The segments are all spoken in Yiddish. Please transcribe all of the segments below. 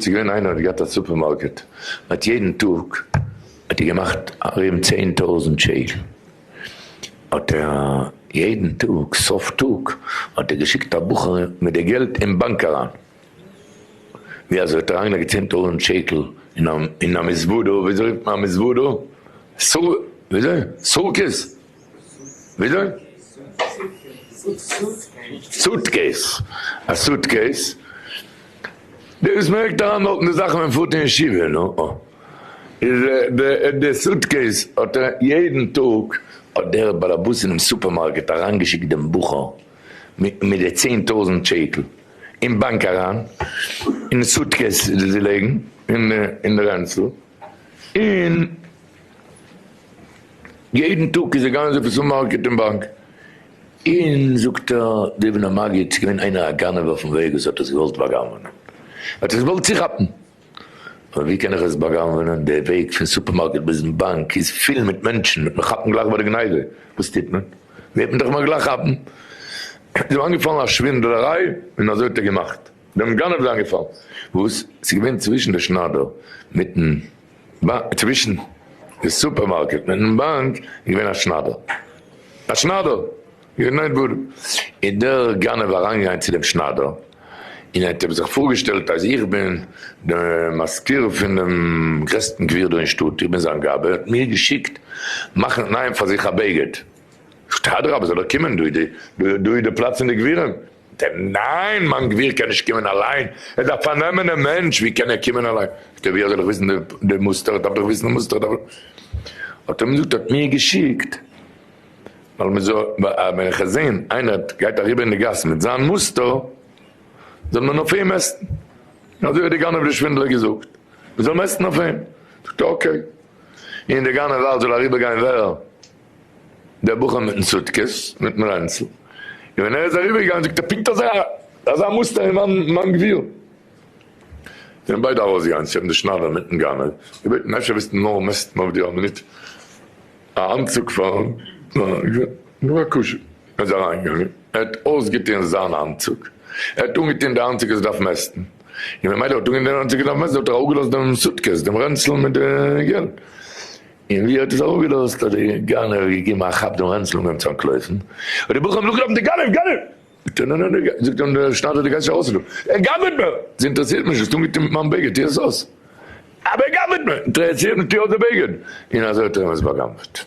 ס'איז געווען איינער האט געהאט א סופערמארקעט האט יעדן טאג האט ער געמאכט ארום צען טויזענט שקל האט ער יעדן טאג סוף טאג האט ער געשיקט א בחור מיט די געלט אין באנק אריין ווי אזוי האט ער אריין געלייגט צען טויזענט שקל אין א מזוודא וויאזוי רופט מען א מזוודא סו וויאזוי סורקעס. וויאזוי? סוטקעיס, א סוטקעיס, דאס מערקט אריין דארט די זאכן ווען מען פארט אין ישיבה, נו, איז די סוטקעיס האט ער יעדן טאג האט דער באלעבאס אינעם סופערמארקעט אריינגעשיקט דעם בחור מיט די צען טויזנט שקל אין באנק אריין, אין סוטקעיס זיי לייגן אין די רענצל. און יעדן טאג איז ער געגאנגען זיך צו מארקעט און באנק, און זאגט ער די בן המגיד ס'איז געווען איינער א גנב אויפן וועג וואס האט עס געוואלט באגנבענען, האט עס געוואלט צוכאפן, אבער ווי קען איך עס באגנבענען, די וועג פון סופערמארקעט ביזן באנק איז פול מיט מענטשן, וועט מען כאפן גלייך ביי די גניבה, וואס טוט מען, וועט מען דאך מיר גלייך כאפן, איז אים איינגעפאלן א שווינדלעריי און אזוי האט ער געמאכט. דעם גנב איז איינגעפאלן וואס ס'איז געווען צווישן די שניידער מיטן באנק, צווישן די סופערמארקעט מיטן באנק איז געווען א שניידער, א שניידער איז געווען דארט, איז דער גנב אריינגעגאנגען צו דעם שניידער און ער האט אים זיך פארגעשטעלט אז איך בין דער מזכיר פון דעם גרעסטן גביר דא אין שטאט, איך בין זיין גבאי, ער האט מיר געשיקט מאכן נייען פאר זיך א בגד, זאגט ער אדרבה זאל ער קומען, דא איז די פלאץ פון די גבירים. ט, ניין, מיין גביר קען נישט קומען אליין, ער דארף פארנעמען דעם מענטש, ווי קען ער קומען אליין? זאגט ער, וויאזוי זאל איך וויסן די מוסטער, איך דארף דאך וויסן די מוסטער, איך דארף. האט ער אים געזאגט, ער האט מיר געשיקט, ווייל מען זאל, ווען איך וועל זען איינער גייט אריבער אין די גאס מיט זיין מוסטער, זאל מען אויף אים מעסטן, אזוי האט דער גנב דער שווינדלער געזאגט, מען זאל מעסטן אויף אים, זאגט ער, אקעי, און דער גנב ווייל זאל אריבער גיין ווער? דער בחור מיטן סוטקעס, מיטן רענצל, און ווען ער איז אריבערגעגאנגען זאגט ער פונקט אזא אזא מוסטער ווי מיין מיין גביר. זענען ביידע ארויסגעגאנגען צו אים די שניידער מיטן גנב, געבעטן אפשר ווילסטו נאר מעסטן אויף דיר א מינוט א אנצוג פארן געווען כשר, ער איז אריינגעגאנגען ער האט אויסגעטון זיין אנצוג, ער האט אנגעטון די אנצוג אז ער דארף מעסטן, און ווען מיידל האט אנגעטון די אנצוג אז ער דארף מעסטן האט ער אראפגעלאזט דעם סוטקעס, דעם רענצל מיט די געלט. און ווי ער האט עס אראפגעלאזט האט דער גנב געגעבן א כאפ דעם רענצל און געהאבן צו אנטלויפן, האט די בחורים נאכגעלאפן דער גנב גנב! זאגט ער נאנא נאנא זאגט אים דער שניידער דו גייסט נישט ארויס פון דא, ער גנב'עט מיר! עס אינטערעסירט מיר נישט וואס טו מיט מיין בגד טו עס אויס, אבער ער גנב'עט מיר! אינטערעסירט מיך טו אויס די בגד! און אזוי האט ער אים עס באגנב'עט.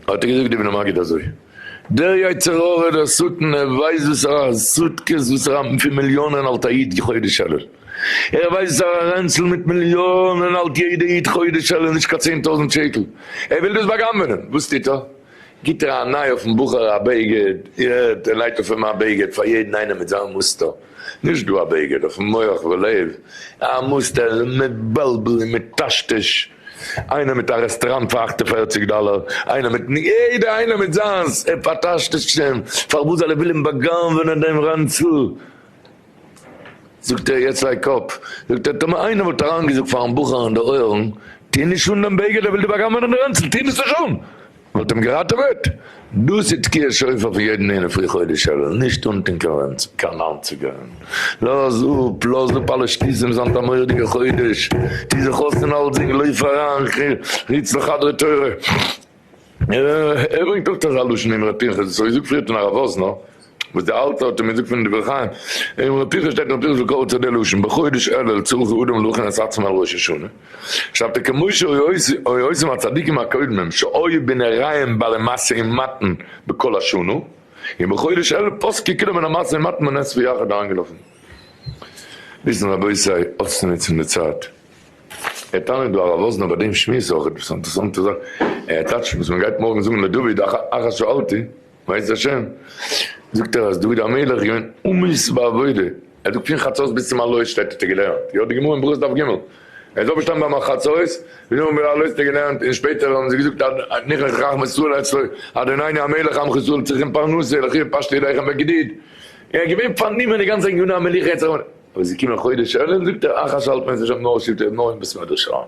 האט ער געזאגט די בני מגיד אזוי. דער יצר הרע דער שטן ער ווייסט וואס ער האט סוטקעס וואס ער האט פון מיליאנען האלט א איד כחודש אלול ער ווייסט וואס ער האט א רענצל מיט מיליאנען האלט יעדע איד חודש אלול נישט קיין צען טויזענט שקל ער וויל דאס באגנבענען וואס טוט ער גיט ער א ניי אויפן בחור א בגד יעט ער נייט אויף אים א בגד פאר יעדן איינעם מיט זיין מוסטער נישט דא א בגד אויפן מח ולב א מוסטער איז מבלבל און מטשטש. איינער מיט א רעסטעראנט פאר אַכט און פֿערציק דאלער, איינער מיט ני, יעדער איינער מיט זיינס, ער פארטאשט עס שוין, פארוואס זאל ער ווילען באגנבענען דעם רענצל? זאגט ער, יעצט וועיק אפ, זאגט ער, טאמער איינער וואלט אריינגעזאגט פארן בחור אין די אויערן, טוה נישט אן דעם בגד, ער וויל דיר באגנבענען די רענצל, טוה דאס נישט אן! מען האט אים געראטעוועט? דאס איז תקיעת שופר פון יעדן איינער פרי חודש אלול, נישט אנטון קיין ווענצן, קיין אנצוגען, לאז אפ, לאז אפ אלע שטותים, זיין א מורא'דיגע חודש, טו זיך אויס אין אלסדינג, לויף אריין, רוץ לחדרי תורה, ער ברענגט אויך אזא לשון אמרי פנחס, וואס האב איך געזאגט פריער פון הרב וואזנער? וואס די אלטע האט אים געזאגט פון דברי חיים, אין ר' פנחס שטייט אין ר' פנחס וקרא צו די לשון, בחודש אלול צריך אדם להכין את עצמו על ראש השנה, שרייבט ער כמו שהיו עושים הצדיקים הקודמים שהיו בנעריים בעלי משא ומתן בכל השנה, און בחודש אלול פסקו כולם מן המשא ומתן בנס ויחד אריינגעלאפן וויסן רבותי אויסצונוצן די צייט. ער טענה'ט דא הרב וואזנער ביי דעם שמועס אויך עפעס אן אינטערעסאנטע זאך, ער טעטשט וואס מען גייט מארגן זאגן לדוד אחר שאלתי. ווייסט השם, זאגט ער אז דוד המלך איז געווען אמיץ בעבודה, ער זאגט פון חצות ביז צום עלות שטייט האט ער געלערנט, יא די גמרא אין ברכות דף ג', ער איז אויפגעשטאנען ביים חצות, ביז און ביז עלות האט ער געלערנט, און שפעטער האבן זיי געזאגט עד נכנס רחמי ישראל אצלו, עד עינינו המלך עמך ישראל צריכים פרנסה, לכי ופשטי ידיכם בגדיד, ער איז געווען פארנומען די גאנצע עניני המלוכה, אבער עס איז געקומען חודש אלול זאגט ער אחש האלט מען זיך שוין נאר שבטי נאר אין בית מדרש אריין.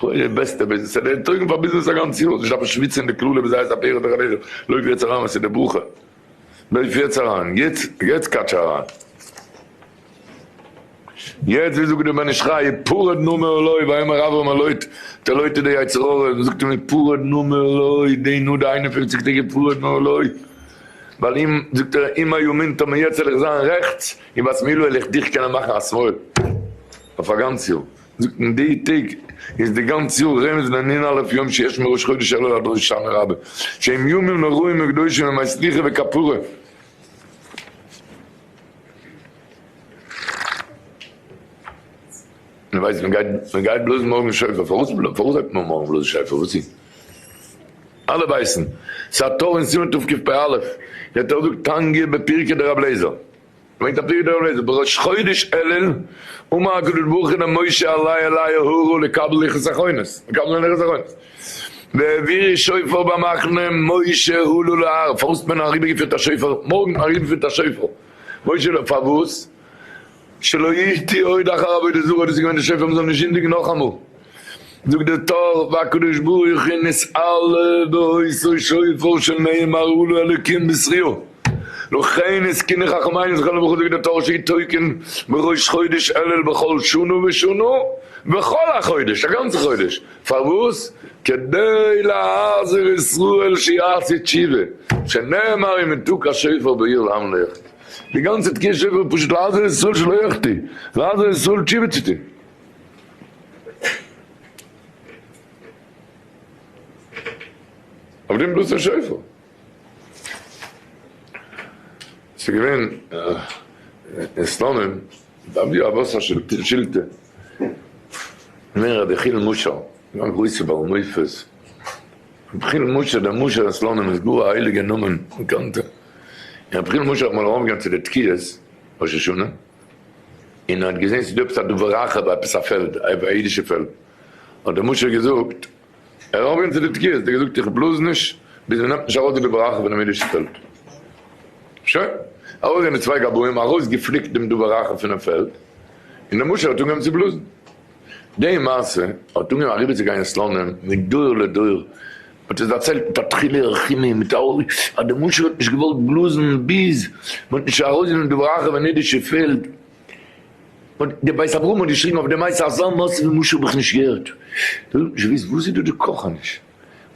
כולל די בעסטע ביזנעס, ס'איז דער ענטויגן פאר ביזנעס א גאנץ יאר, נישט דארפן שוויצן אין די קללה ווי זייערס א פירות וכדו', לויף יעצט אריין, עס איז די ברכה, לויף יעצט אריין, יעצט, יעצט קאטש אריין, יעצט ווי זאגט דער בן איש חי, פרד נא מעולוי, ויאמר אברם אל לוט, טא לוט איז דער יצר הרע, וואס זאגט ער מיר פרד נא מעולוי, דעי נא די איין און פופציג טעג פרד נא מעולוי, ווייל אם, זאגט ער, אם היה מין טא מיעצט וועל איך זיין רעכטס, אם בת מילוי וועל איך דיך קענען מאכן א שמאל, אויף א גאנץ יאר. זאגט מען די טעג איז די גאנץ יאר רמז לענין א' יום שיש מראש חודש אלול עד ראש השנה רבה שהם ימים נוראים וקדושים ימי סליחה וכפרה. מען ווייסט מען גייט מען גייט בלאזן מארגן שופר פארוואס פארוואס זאגט מען מארגן בלאזן שופר וואס איז אלע ווייסן ס'א תורה אין סימן תקפ א דער תורה זאגט תנגי בפרקי דרב אליעזר. ברענגט א פרי דור נזר בראש חודש אלול, אמר הקדוש ברוך הוא למשה עלי אלי הרה לקבל לוחות אחרונות, מקבל זיין לוחות אחרונות, והעבירי שופר במחנה משה הלו להר, פארוואס האט מען אריבערגעפירט א שופר, מארגן אריבערפירט א שופר, משה הלו פארוואס, שלא ישתי עוד אחר עבודה זרה, דאס איז געווען די שופר מ'זאל נישט זינדיגן נאכאמאל. זאגט דער טור, והקדוש ברוך הוא נסעל בעושו שופר שנאמר הוא לו אלקים בישראל, לכן עסקני חכמינו זכרונם לברכה זאגן דער טור שיתוקן בראש חודש אלול בכל שנה ושנה וכל החודש, א גאנצע חודש, פארוואס? כדי להחזיר ישראל שיעשה תשובה, שנאמר אם יתוק השופר בעיר לעם לא יחטא, די גאנצע תקיעת שופר איז פשוט להחזיר ישראל שלא יחטא, להחזיר ישראל תשובה צו טון. אויף דעם בלוט'ן שופל. ס'איז געווען אין סלאנים דארף דיר א וואסער שילטע. מוהרא ד חיל משא, גאר א גרויסע בעל מופת. רבי חיל משא דער משא אין סלאנים איז גאר א הייליגע נאמען, באקאנטע. רבי חיל משא האט אמאל ארויפגעגאנגען צו די תקיעות ראש השנה. און ער האט געזען ס'איז דא עפעס א דבר רחב ביי עפעס א פעלד, א אידישע פעלד, האט דער משרת געזאגט, ער האט אנגעהויבן צו די תקיעות, ער האט געזאגט איך בלאז נישט ביז מ'נעמט נישט ארויס די דבר רחב פונעם אידישן פעלד. שוין, ארויסגעגאנגען די צוויי גבאים, ארויסגעפליקט דעם דבר רחב פונעם פעלד, און דער משרת האט אנגעהויבן צו בלאזן. די מעשה האט אנגעהויבן אריבערצוגיין אין סלאנים מדור לדור, מ'האט עס דערציילט מיט א תחילי רחימי מיט א אורי אז די משהו האט נישט געוואלט בלאזן ביז מ'האט נישט ארויסגענומען די בראכע ווען אידישע פעלד און די בית אברהם האט געשריגן אויף די מעשה אזא מעשה ווי משהו האב איך נישט געהערט דאס האט נישט געוויסט וואס איז דא די קאכעניש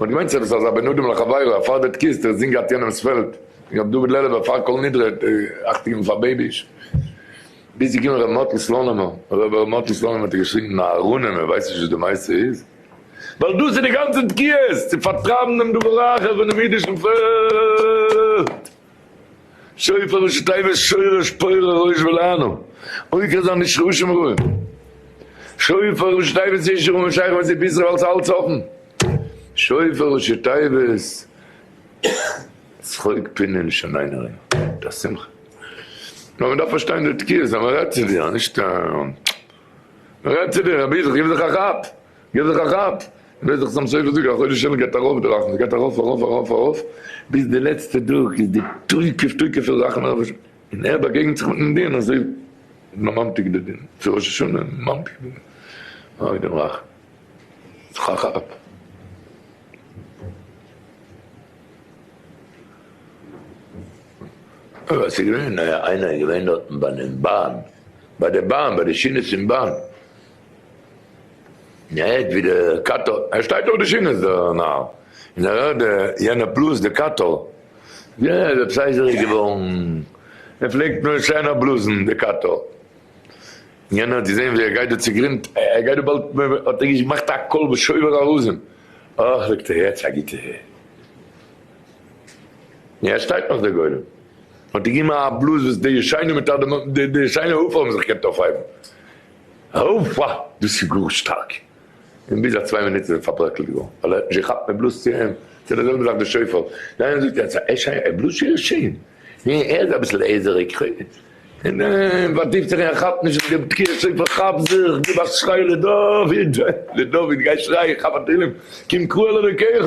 מ'האט געמיינט ס'איז עפעס אזא בין אדם לחבירו א פארדערט קיסט איך זינג אט יענעמס פעלד ר' דוד לעלובער פאר כל נדרי האט אכט געגעבן פאר בעיביש ביז ס'איז געקומען ר' מאטל סלאנימער אבער ר' מאטל סלאנימער האט געשריגן אהרונען מ'ווייסט נישט וואס די מעשה איז. ווייל דאס איז די גאנצע תקיעות, צו פארטרייבן דעם דור הרחב פונעם אידישן פעלד. שופר אשת עבש שורש פורה ראש ולענו עוקר זיין איש רשעים רעים. שופר אשת עבש איש רע און שייך מיט זי ביז רב אלס האלץ אפן. שופר אשת עבש צחוק פינען שונאינו רעים. די שמחה. נאר מען דארף פארשטיין די תקיעות אז מען רעדט צו דיר, נישט א. רעד צו דיר, רבי זיך, גיב זיך א כאפ! גיב זיך א כאפ! ווער זיך צום סוף זאגט, א חודש אלול גייט ארויף די רחמים, גייט ארויף ארויף ארויף ארויף, ביז די לעצטע טאג איז די תוקף תוקף פון רחמים אויף השם, און ער באגעגנט זיך מיטן דין אזוי איז מען ממתיק די דין, צו ראש השנה ממתיק די דין, אוי דעם רחמים, גיב זיך א כאפ! ס'איז געווען איינער איז געווען דארטן ביינעם באן, ביי די באן ביי די שינעס אין באן, און ער הערט ווי די קאטא, ער שטייט אויף די שינעס דערנאך, און ער הערט די יענע בלאז די קאטא, יא ער איז עפעס הייזעריג געווארן, ער פלעגט נאר שיינער בלאזן די קאטא, און יענער האט געזען ווי ער גייט דא צוגרינד, ער גייט דא באלד, האט ער געמאכט א קול וואס שובר ארזים, אוי זאגט ער יעצט א גוטע. יא עס שטייט נאך דער גולם האט געגעבן א בלאז וואס די ישעינו מיט אט די די ישעינו הופא האבן זיך געקענט אויפהייבן. הופא! דאס איז גאר שטארק! און ביז א צוויי מינוט איז ער פארברעקלט געווארן ווייל ער האט נישט געכאפט מען בלאזט צו אים ס'איז די זעלבע זאך די שופר די איינער זאגט אז ישעי' ער בלאזט שוין שיין ניין ער איז אביסל עזעריג און ער פארטיפט זיך און ער כאפט נישט די תקיעת שופר כאפ זיך גיב א שריי לדוד לדוד גיי שריי כאפ א תהילים קום קרא אלוקיך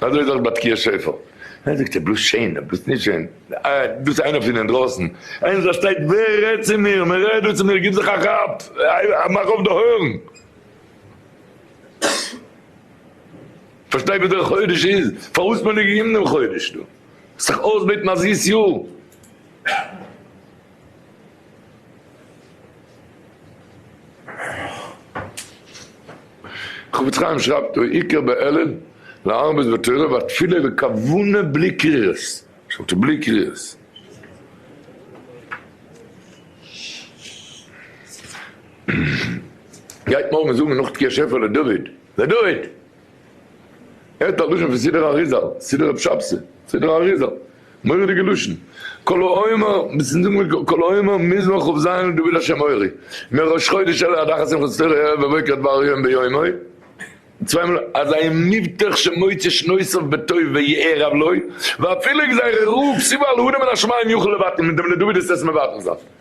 אזוי איז אויך ביי תקיעת שופר. איינער זאגט ער בלאזט שיין, ער בלאזט נישט שיין. דאס איז איינער פון אינדרויסן. איינער זאל שטייט, ווער רעדט צו מיר? מען רעדט דא צו מיר, גיב זיך א כאפ, מאך אויף די אויערן. פארשטיי וואס דער חודש איז, פארוואס מען האט געגעבן דעם חודש דא. זיך אויסבעטן א זיס יאר. חפץ חיים שרייבט אויף עיקר בעלין להרבות בתורה והתפילה וכוונה בלי קרירות, שטאט בלי קרירות. גייט מארגן זאגן נאך תקיעת שופר לדוד, לדוד! ער האט א לשון פון סידור אריזל, סידור רב שבתי, סידור אריזל, מורא'דיגע לשון, כל העומר, ביסט נישט זאגן מיט כל העומר מזמור כ ז דוד השם מורי, מיר ראש חודש אלול הדחת שמחת תורה ערב ובוקר דבר יום ביומו, צוויי מאל אזי מבטח שמוצא שנותיו בטוב ויער עוולו, ואפילו גזירה רוב סיבה על האדם מן השמים יוכל לבטל, מיט דעם לדוד איז עס מבטל זיין.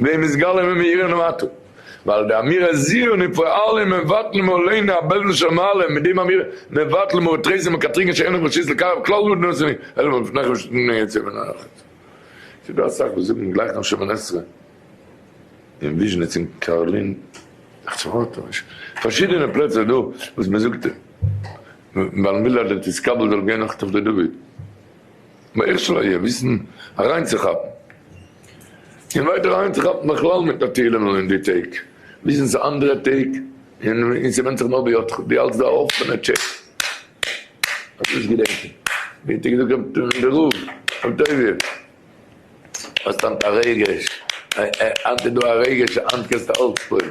ווען מסגלין ווען מאירין למטה, ווייל די אמירה זיון און פועלים מבטלים מעלינו א בעלזן של מעלה, מיט דעם אמירה מבטלים אור תריסר מקטריגן שאין להם רשות לקרב כלל גדול בני ישראל אלא מלפניכם ושל בני ישראל מן האחד. ס'איז דא אסאך וואס זאגן גלייך נאך שמונה עשרה אין וויזשניץ און קארלין, פארשידענע פלעצער דא וואס מ'זאגט ווייל מ'וויל אז די תתקבל זאל גיין נאך תפלה דוד. מאיר שלויער וויסן אריינצוכאפן און ווייטער אריינצוכאפן בכלל מיט נאטירלען און אין די טעג וויסן ס'איז אנדערע טעג און ס'ווענדט זיך נאר בידך דו האלטסט די אפענע טשעט האסט נישט געדענקט ווי האט ער געזאגט רב טובי' דער רב רב טובי' האסט היינט א רגש היינט איז דא א רגש היינט קענסטו אלץ פויל.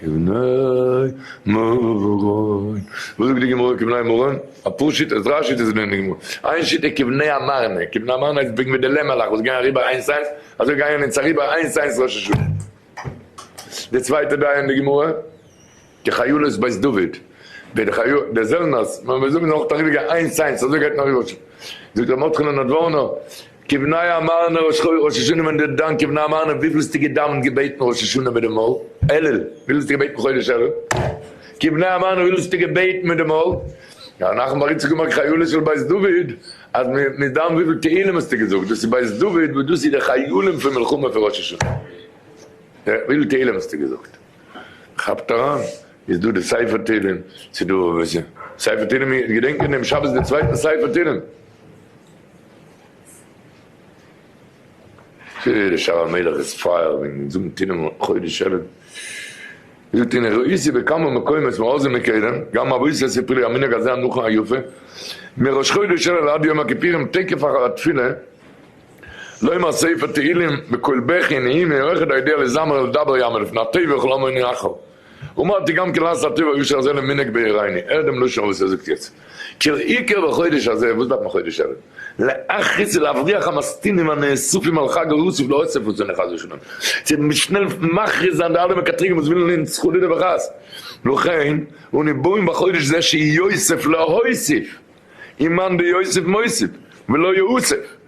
כבני מרון, וואס זאגט די גמרא כבני מרון? א פאר שיטות, דריי שיטות זענען אין גמרא, איין שיטה כבני המרנע, כבני המרנע איז וועגן ווי די לעמערלעך וואס גייען אריבער איינס איינס, אזוי גייען אונז אריבער איינס איינס ראש השנה, די צווייטע דעה אין די גמרא כחיילות בית דוד, ווי די חיות די זעלנערס, ווען מיר זאגן זענען אויך אריבער גייען איינס איינס, אזוי גייט מען אריבער ראש השנה, זאגט ר' מרדכי'לע נאדווארנא. כבני המארנער ראש חודש ראש השנה ווען די דיין כבני המארנער וויפיל האסטו געדאווענט געבעטן ראש השנה מיט די מויל אלול וויפיל האסטו געבעטן חודש אלול כבני המארנער וויפיל האסטו געבעטן מיט די מויל ר' נחמן בר איציקל מג חיולת של בית דוד אז מ'איז דן וויפיל תהלים האסטו געזאגט דאס איז בית דוד וואס דאס איז די חילים פון מלחמה פון ראש השנה וויפיל תהלים האסטו געזאגט כאפט אריין איז דא די ספר תהלים ס'דא ספר תהלים געדענק מיר דעם שבת די צווייטן ספר תהלים. די שאול המלך איז פייער וועגן נישט זאגן תהילים אום חודש אלול, זאגט אין רוסיה בכמה מקומות מאז ומקדם, גם אבוי סעסי פרי המנהג הזה הנכון היפה, מראש חודש אלול עד יום הכיפירים תקף אחר התפילה לומר ספר תהילים בקול בכי נהי מיוחד היודע לזמר ולדבר יאמר לפני התיבה כל המון יחל. און מען האט די גמ' געלאזט א טובה ראשונה אזוי למנהג בעיריני, הער דעם לשון וואס ער זאגט יעצט, כל עיקר בחודש הזה, וואס דארף מען חודש אלול? להכעיס ולהבריח המסטינים הנאספים על חג הרוסים לאוסף אותנו חס ושלום, צו שנעל מכריז זיין די אלע מקטריגים וואס ווילן אונז חלילה וחס, לכן אני בוים בחודש זה שיוסיף להוסיף, און מאן דיוסיף מוסיף, ולא יאוסף.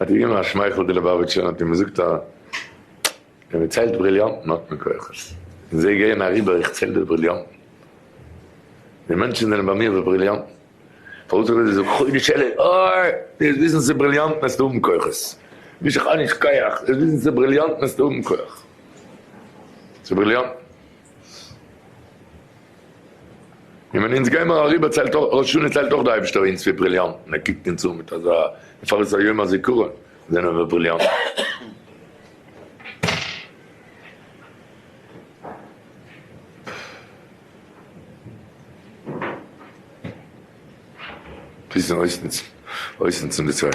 האט ער געגעבן א שמייכל די ליבאוויטשער האט אים זאגט ער ער ציילט בריליאנטן האט מען כוחות און זיי גייען אריבער איך צייל די בריליאנטן די מענטשן זענען ביי מיר ווי בריליאנטן פארוואס איך זאל זאגן חודש אלול אוי דו זאלסט וויסן ס'איז בריליאנטן וועסטו האבן כוחות נישט איך האב נישט כח דו זאלסט וויסן ס'איז בריליאנטן וועסטו האבן כח ס'איז בריליאנטן. און ווען אונז גיימער אריבער ציילט אויך ראש השנה ציילט אויך די אייבישטער אונז פאר בריליאנטן ער קוקט אונז אן מיט אזא פאר איז א יום הזיכרון זענען מיר בריליאנטן. וויסן אויסנוצן אויסנוצן די צייט.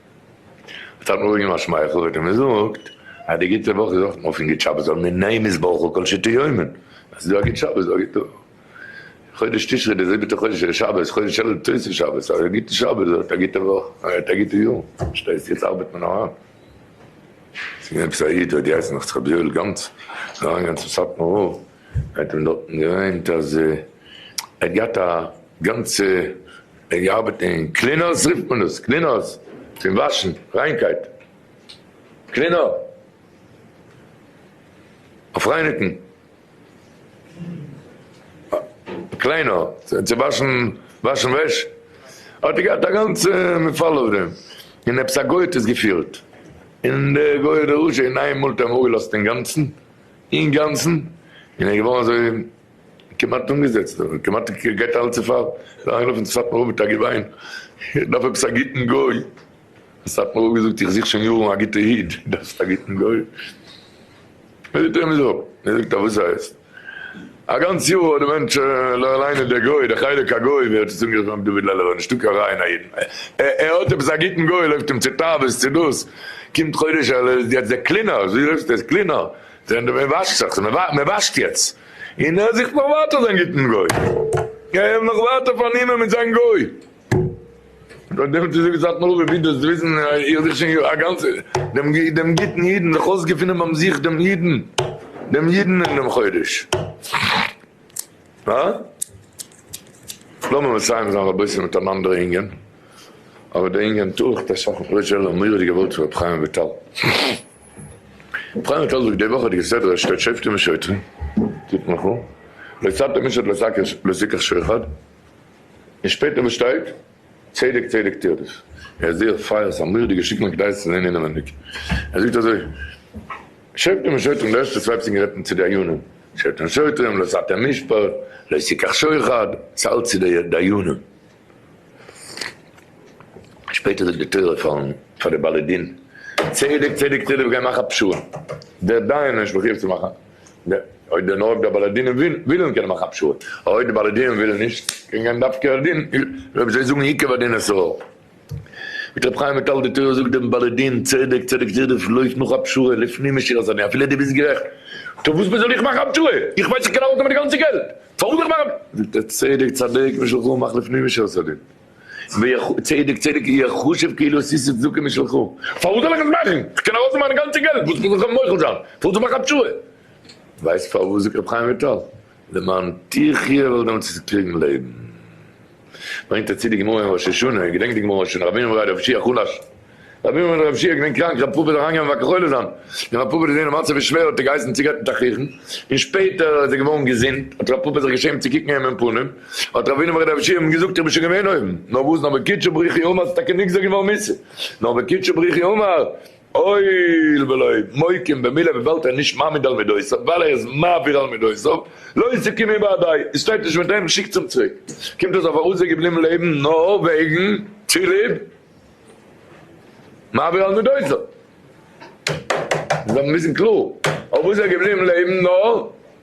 האט אראפ געגעבן א שמייכל ווען די מזאגט אז די גוטע וואך איז אויך מופן גוט שבת זאל מיר נעים איז ברכו כל שיטה יומין אז ס'דא א גוט שבת איז א גוטע וואך חודש תשרי די זיבעטע חודש איז שבת חודש אלול תוס' שבת א גוטע שבת איז אויך א גוטע וואך א גוטע יאר פארשטייסט יעצט ארבעט מען אריין ס'איז געווען עפעס א איד האט געהייסן נאך צו ר' יואל גאנץ איז אריין געגאנגען צום סאטמאר רב ער האט אים דארטן געמיינט אז ער האט געהאט א גאנצע ער ארבעט אין קלינערס רופט מען דאס, קלינערס פון וואשן, ריינקייט קלינער, אויף רייניגן קליינער, צו וואשן וואשן וועש, האט ער געהאט א גאנצע מפעל אויף דעם, און עפעס א גוי האט עס געפירט, און דער גוי איז דער רשע, און איינמאל האט ער אים אפגעלאזט אינגאנצן, אינגאנצן, און ער איז געווארן אזוי כמעט אנגעזעצט און כמעט גייט אלע צופאל אריינלאפן צו סאטמאר רב מיט א געוויין, איך דארף עפעס א גוטן גוי, האט סאטמאר רב געזאגט איך זוך שוין יארן א גוטע איד, דו דארפסט א גוטן גוי? ווער זאגט אים עס אפ? ער זאגט א וואס הייסט? א גאנץ יאר האט די מענטש לא עלינו דער גוי, דער חלק הגוי ווי ער האט עס אנגערופן רבי דוד לעלעווער נישטא קיין רע אין א אידן, ער האט עפעס א גוטן גוי, לויפט אים צו תאוות צו דאס, קומט חודש אלול איז יעצט דער קלינער, אזוי רופסטו עס קלינער? זען דו ווער וואשט זיך, מען וואשט יעצט, און ער זוכט נאך ווייטער זיין גוטן גוי, ער וויל נאך ווייטער פארנומען מיט זיין גוי, דאן דעמאלט איז עפעס א תנועה ווי דאס וויסן, איך זיך שוין א גאנצע, דעם גוטן אידן, זיך אויסגעפונען ביים זיך דעם אידן, דעם אידן אין דעם חודש. אה? לאמיר מסיים זיין רבותי מיט אן אנדערע ענין, אבער די ענין טאר איך טאקע שאפן פרישע, לאמיר עס געוואלט ר' חיים וויטאל. פרייע טאג זאגט די וואכעדיגע סדר אשכול שופטים ושוטרים תתמחו לא צערתם איש את לזיקך שור אחד און שפעטער וואס שטייט צדק צדק תרדוף ער איז זייער פייער ס'איז א מורא'דיגע שטיקל און כדאי עס צו זען אינעווענדיג ער זאגט אזוי שופטים ושוטרים די ערשטע צוויי פסוקים רעדט מען צו די דיינים שופטים ושוטרים לא צערתם איש לא יזיקך שור אחד צייל צו די דיינים. שפעטער זאגט די תורה פארן פאר די בעלי דין, צדק צדק צדק גיי מאך א פשרה, דער דיין איז נישט מחויב צו מאכן, אויב דער נאר די בעלי דינים ווילן קענען מאכן א פשרה, אויב די בעלי דינים ווילן נישט קען גיין דווקא א דין, אויב זיי זאגן עיקר הדין אסור, זאגט רבי חיים וויטאל די תורה זאגט דעם בעלי דין, צדק צדק צדק לויף נאך א פשרה לפנים משירת הדין אפילו דו ביסט גערעכט, טא וואס מיר זאל איך מאכן א פשרה, איך ווייס איך קען ארויסנעמען די גאנצע געלט. פארן זיך מאכן זאגט ער צדק צדיק משלך מאך לפנים משורת הדין צדק צדיק אי ה חשוב כאילו עס איז צדקה משלך פארוואס זאל איך עס מאכן איך קען ארויסנעמען מיין גאנצע געלט וואס מוז איך מוחל זיין פארוואס זאל איך מאכן א תשובה ווייסט פארוואס זאגט רבי חיים וויטאל למען תחיה ווייל דעמאלטס וועסטו קריגן לעבן. ברענגט א צו די גמרא אין ראש השנה, געדענקט די גמרא ראש השנה, רבינו מר' רב שיח חלש, רבינו מר' רב שיח געווען קראנק, רב פאפא איז אריינגעגאנגען ווען הק' חולה זיין, ווען רב פאפא איז געווען די מצב איז שווער האט ער געהייסן צו גייט מיט א חכם, און שפעטער איז ער געווארן געזונט, האט רב פאפא זיך געשעמט צו קוקן איהם אין פנים, האט רבינו מר' רב שיח אים געזאגט איך בין שוין געווען אויבן, נאר וואס נאר בקיצ'ה בריחי אמר ס'איז טאקע נגזר געווארן מיתה, נאר בקיצ'ה בריחי אמר, הואיל ולא מוקים במילה וויבאלד ער איז נישט מעמיד על מידותיו ווייל ער איז מעביר על מידותיו לא עסוקים היא באדאי עס שטייט נישט מיט אים שיקטס אים צוריק קומט אויס אז פארוואס איז ער געבליבן לעבן נאר וועגן צוליב מעביר על מידותיו זאל מען וויסן קלאר פארוואס איז ער געבליבן לעבן נאר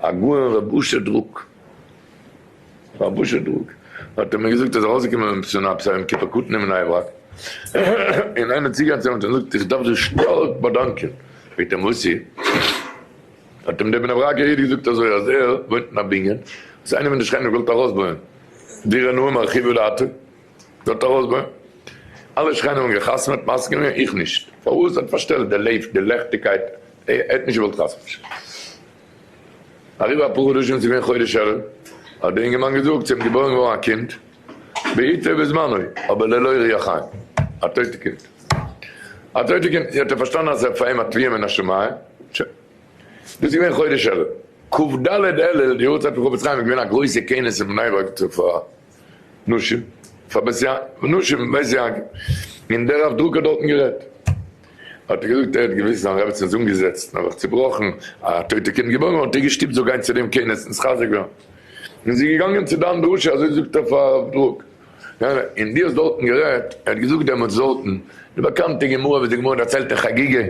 הגאון רבי אשר דרוק רבי אשר דרוק האט אים געזאגט ער איז ארויסגעקומען אין פסונא פסח יום כיפור קטן אין בני ברק און איינער צוגיין צו אים האט אים געזאגט איך דארף דיר שטארק באדאנקען פרעגט אים וואסי האט אים דער בני ברקער איד געזאגט אזוי אז ער וואוינט אין א בנין וואס איינער פון די שכנים האט געוואלט ארויסבויען דירה נאה מרחיבה דעתו. זאגט א רוזבער, אלע שכנים האבן געחתמעט, מסכים איר? איך נישט. פארוואס? האט פארשטעלט די לעפט, די לעכטיגקייט, ער האט נישט געוואלט חתמ'נשען. אריבער אפאר חדשים, ס'איז געווען חודש אלול, האט דער אינגערמאן געזאגט, ס'איז געבוירן געווארן א קינד, בעתו בזמנו, אבער ללא ריח חיים, א טויטע קינד. א טויטע קינד, האט ער פארשטאנען אז עס איז פאר אים א תביעה מן השמים. שוין. דאס איז געווען חודש אלול. כ ד אלול, די יארצייט פון חפץ חיים, איז געווען א גרויסע כינוס אין בני ברק צפון. נשים, פאר בית יעקב, נשים, בית יעקב, און דער רב דרוק האט דארטן גערעדט, האט ער געזאגט, ער האט געוויסט זיין רעבעצין איז אנגעזעצט און האט זיך צובראכן, א טויטע קינד געבוירן, האט ער געשטופט זיך גיין צו דעם כינוס און זיך חזק ווערן, און זי איז געגאנגען צו דיין דרשה, אזוי זאגט ער פאר הרב דרוק, יא, און דו האסט דארטן גערעדט, ער האט געזאגט דעמאלטס דארטן, די באקאנטע גמרא וואס די גמרא דערציילט אין חגיגה,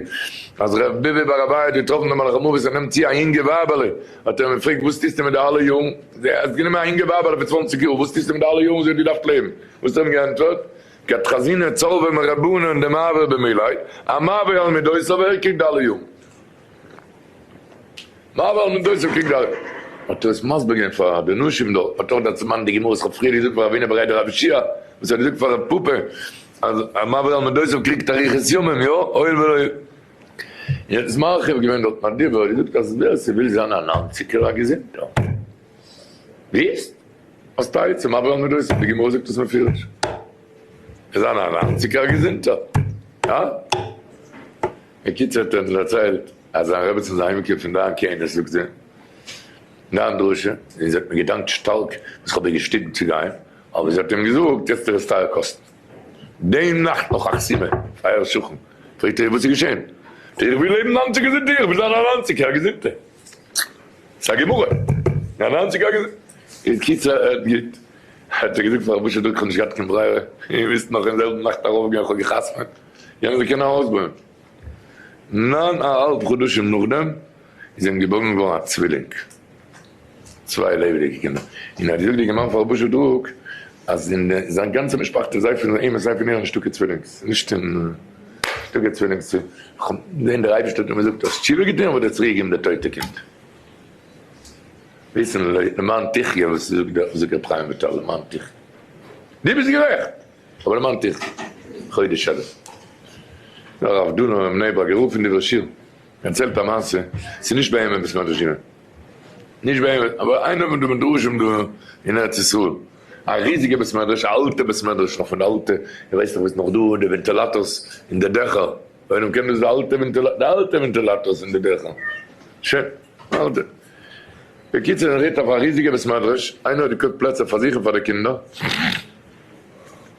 אז ר' בבי בר אביי האט געטראפן דעם מלאך המוות ער נעמט צו א יונגע ווייבעלע, האט ער אים געפרעגט וואס טוסטו מיט די אלע יארן, זי האסט גענומען א אינגע ווייב אדער פון צוואנציג יאר, וואס טוסטו מיט די אלע יארן זי האט געדארפט לעבן, וואס האט ער אים געענטפערט, כת חזינא צלבא מרבנן און די מעבר במילוי, א מעבר על מידותיו ער קריגט די אלע יארן. מעבר על מידותיו קריגט די אלע יארן. האט ער עס מסביר געווען פאר די נשים דארט, האט ער דארט צוביינדן די גמרא וואס כ'האב פריער געזאגט פאר רבינו בער איידער רבי שיעא וואס ער האט געזאגט פאר רב פפא אז א מעבר על מידותיו קריגט אריכות ימים, יא, הואיל ולא יעצט מרחיב געווען דארט מיין דיבור, געזאגט אז ווער ס'וויל זיין א ניינציגער א געזונטער ווירסט האסט א עצה מה בוער מדוסים, די גמרא זאגט עס מפורש וויל זיין א ניינציגער א געזונטער הא? בקיצור האט ער אונז דערציילט אז זיין רעבעצן איז אהיימגעקומען פון דיין כינוס זאגט זי דיין דרשה און זי האט מיר געדאנקט שטארק וואס כ'האב איר געשטיפט צו גיין אבער זי האט אים געזאגט יעצט ער עס טייער קאסטן. דעם נאכט נאך אכט סימען, אייער שכן פרעגט אייך וואס איז געשען? איך וויל לעבן נײַנציק געזונט איך וויל זיין א נײַנציק יאר געזונטע ס'איז א גמרא א נײַנציק יאר געזונט איז קיצער הערט גוט האט ער געזאגט פאר רבוש ע דא איך האב נישט געהאט קיין ברירה איר מיזט נאך אין זעלבן נאכט ארויף גיין איך האב גע'חתמ'עט יענער זאל קענען ארויסבויען נײַן א האלב חדשים נאכדעם איז אים געבוירן געווארן א צווילינג. צוויי לעבעדיגע קינדער, און ער האט געזאגט די גמרא פאר רבושע דרוק אז אין זיין גאנצע משפחתו סיי פון אים און סיי פון איר נישטא קיין צווילינגס, נישט אין נישטא קיין צווילינגס צו זען דער אייבערשטער האט אים געזאגט האסט תשובה געטון וועט ער צוריק געבן די טויטע קינד, וויסן למען תחיה וואס זאגט דער זאגט אפרים ויטל למען תחיה דו ביסט גערעכט אבער למען תחיה חודש אלול נאר הרב דונם אין בני ברק גערופן דברי שיר. דערציילט א מעשה, ס'איז נישט ביי אים עפעס מער ערשינען, נישט ביי אים, אבער איינער פון די מדרשים דא אין ארץ ישראל, א ריזיגע בית מדרש, א אלטע בית מדרש, נאך פון די אלטע, איך ווייס נאך ווי ס'איז נאך דא די ווענטילאטארס אין די דעכער, איינער קען דאס די אלטע ווענטילאטארס, די אלטע ווענטילאטארס אין די דעכער, שוין אלטע, בקיצור ער רעדט אויף א ריזיגע בית מדרש, איינער האט געקויפט פלעצער פאר זיך און פאר די קינדער.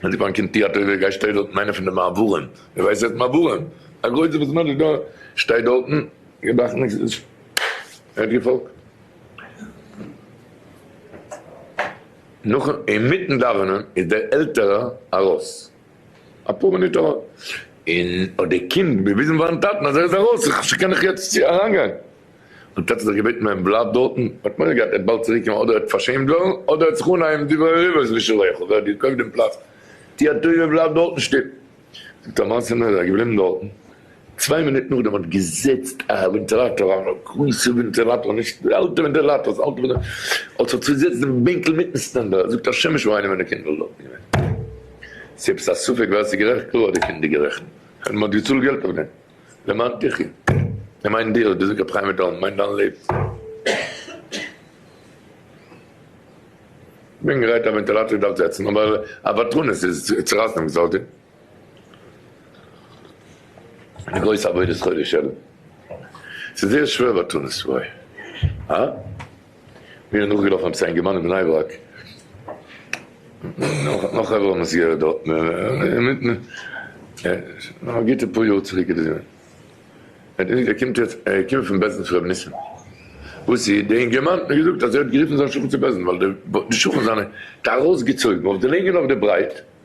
ווען די באנק אין טיאטער איז ווער גייסט שטייט דארטן איינער פון די מעברים ווער ווייסט עס מעברים א גרויסע וואס מענטש איז דא שטייט דארטן געדאכט ניקס איז ער האט געפאלגט נאכן אינמיטן דאווענען איז דער עלטערער ארויס אפאר מינוט ארוי און האט די קינד געוויזן פארן טאטן אז ער איז ארויס איך קען דאך יעצט אריינגיין. און טאטע זיך געבעטן ווען בלייבט דארטן, מ'האט מורא געהאט ער וועט באלד צוריק קומען אדער ער וועט פארשעמט ווערן, אדער ער וועט זיך אנהייבן די ווערן ריווערס ווי שלעכל ווער האט געקויפט דעם פלאץ, טו א טובה בלייב דארטן שטיל. זאגט א מעשה נאר ער איז געבליבן דארטן, צוויי מינוט נאכדעם האט געזעצט א ווענטילאטאר א גרויסע ווענטילאטאר נישט די אלטע ווענטילאטארס אלטע ווענט האט זיך צוזעצט דעם בענקל מיטן סטענדער, זאגט א שמש וואו איינער פון די קינדער איז דארטן געווען, ס'איז עפעס א ספק ווער ס'איז גערעכט קלאר האט די קינדער גערעכנט, מען האט געצאלט געלט אויף דעם. למען תחי'. ער מיינט דיר, דאס זאגט רבי חיים וויטאל, מיינט דיין לעבן. כ'בין גרייט א ווענטילאטער דארף זעצן, אבער א פאטראנעס איז צורייסן דעם גזר-דין. די גרויסע אבידה שכרו שלום. ס'איז זייער שווער פאטראנעס, וואוי. הא? מיר איז נאכגעלאפן עפעס א אינגערמאן אין בני ברק, נאך א חברה מסגרת דארט, א גוטע פאר יאר צוריק איז דאס געווען, ער קומט יעצט, ער קומט פון בעסען צו ר' ניסים, וואס איז, דער אינגערמאן האט מיר געזאגט אז ער האט גערופן זיין שכן צו בעסען, ווייל די שכן זיינע האט ארויסגעצויגן אויף די לענג און אויף די ברייט,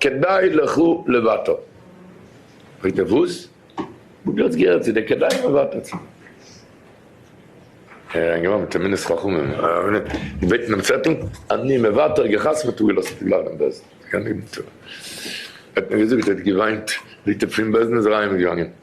כדאי לך לוותר. פרעגט ער וואס? וואו דו האסט געהערט צו די כדאי לוותר צו? ער איז אריינגעווארפן מיט א מינוס חכמים געבעטן דעם צעטל, אני מוותר, געחתמ'ט און געלאזט אויפן גלאט דעם בעסען. ער האט נאר געזאגט ער האט געוויינט, זעהט ער פון בעסען איז ער אהיימגעגאנגען.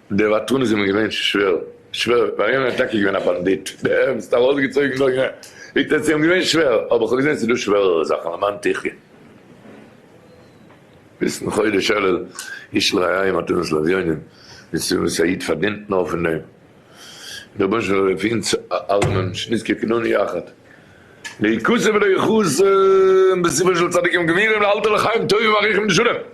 די וואטרן איז אים געווען שווער, שווער, ווייל יענער איז טאקע געווען א באנדיט, ערנסט ארויסגעצויגן דארט, זאגט ער, ס'איז אים געווען שווער, אבער כ'האב געזען ס'איז דא שווערערע זאכן, למען תחיה. ביזן חודש אלול, איש לא היה עם מתנות לאביונים, נישט צו זאגן וואס א איד פארדינט נאר פון דעם, און דער רבונו של עולם זאל אויף אונז אלעמען שנזכה כולנו יחד ליחוס' ולריחוס', און בספר של צדיקים גמורים לאלתר לחיים טובים אריכים ושלמים.